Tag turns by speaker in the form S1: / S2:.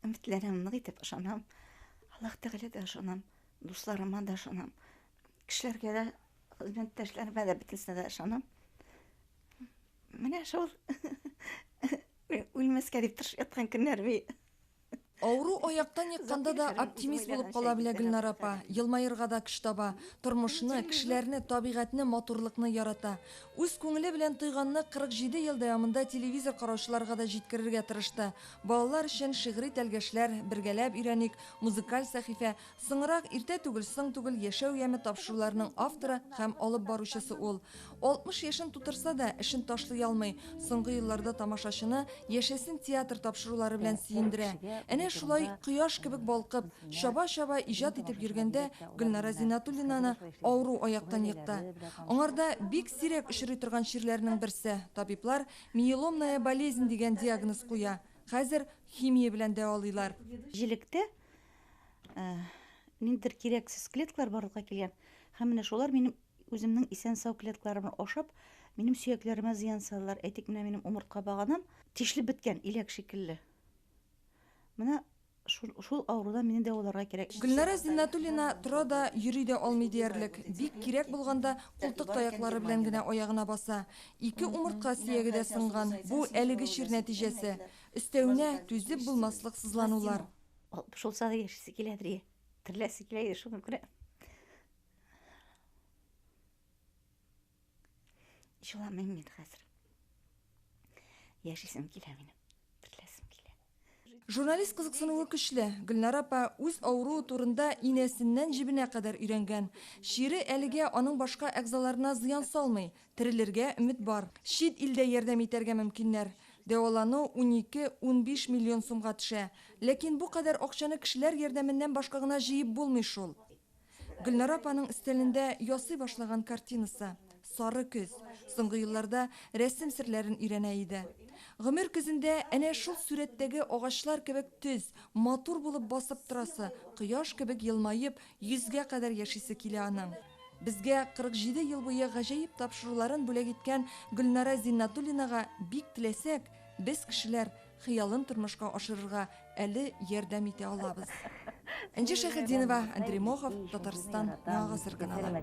S1: Өметләрем нык итеп ышанам. Аллаһ Тәгалә дә ышанам, дусларыма да ышанам. Кешеләргә дә, хезмәттәшләремә дә бөтенесенә дә ышанам. Менә шул үлмәскә дип тырышып яткан көннәр бит. Авыру
S2: аяктан екканда да оптимист булып кала белә Гөлнара апа. Елмаерга да көч таба. Тормышны, кешеләрне, табигатьне, матурлыкны ярата. Үз күңеле белән тойганны 47 ел дәвамында телевизор караучыларга да җиткерергә тырышты. Балалар өчен шигъри тәлгәшләр, Бергәләп өйрәник, Музыкаль сәхифә, Соңрак, Иртә түгел, соң түгел, Яшәү яме тапшыруларының авторы һәм алып баручысы ул. 60 яшен тутырса да, эшен ташлый алмый, соңгы елларда тамашачыны Яшәсен театр тапшырулары белән сөендерә. Әнә шулай кояш кебек балкып, Чаба-чаба иҗат итеп йөргәндә Гөлнара Зиннатуллинаны авыру аяктан екты. Аңарда бик сирәк очрый торган чирләрнең берсе, табиблар миеломная болезнь дигән диагноз куя. Хәзер химия белән дәвалыйлар. Җилектә
S1: ниндидер кирәксез клеткалар барлыкка килгән һәм менә шулар минем үземнең исән-сау клеткаларымны ашап, минем сөякләремә зыян салалар. Әйтик, менә минем умыртка баганам тишелеп беткән, иләк шикелле. Менә Шул, шул авырудан мине дәваларга кирәк. Гөлнара Зиннатуллина
S2: тора да, йөри дә алмый диярлек. Бик кирәк булганда, култык таякла-ры белән генә аягына баса. Ике умыртка сөяге дә сынган. Бу, әлеге чир нәтиҗәсе. Өстәвенә, түзеп булмаслык сызланулар. Алтмыш булса да
S1: яшисе килә, ди. Тереләсе килә иде, шуңа күрә. Җыламыйм мин хәзер. Яшисем килә минем. Терләсем килә. Журналист
S2: кызыксынуы көчле. Гөлнара апа үз авыруы турында инәсеннән җебенә кадәр өйрәнгән. Чире әлегә аның башка әгъзаларына зыян салмый. Терелергә өмет бар. Чит илдә ярдәм итәргә мөмкиннәр. Дәвалану унике, унбиш миллион сумга төшә. Ләкин бу кадәр акчаны кешеләр ярдәменнән башка гына җыеп булмый шул. Гөлнара апаның өстәлендә ясый башлаган картинасы, Сары көз. Соңгы елларда рәсем серләрен өйрәнә иде. Гомер көзендә әнә шул сурәттәге агачлар кебек төз, матур булып басып торасы, кояш кебек елмаеп, йөзгә кадәр яшисе килә аның. Безгә 47 ел буе гаҗәеп тапшыруларын бүләк иткән Гөлнара Зиннатуллинага бик теләсәк, без кешеләр хыялын тормышка ашырырга әле ярдәм итә алабыз. Энҗе Шәйхетдинова, Андрей Мохов, Татарстан, Яңа гасыр каналы.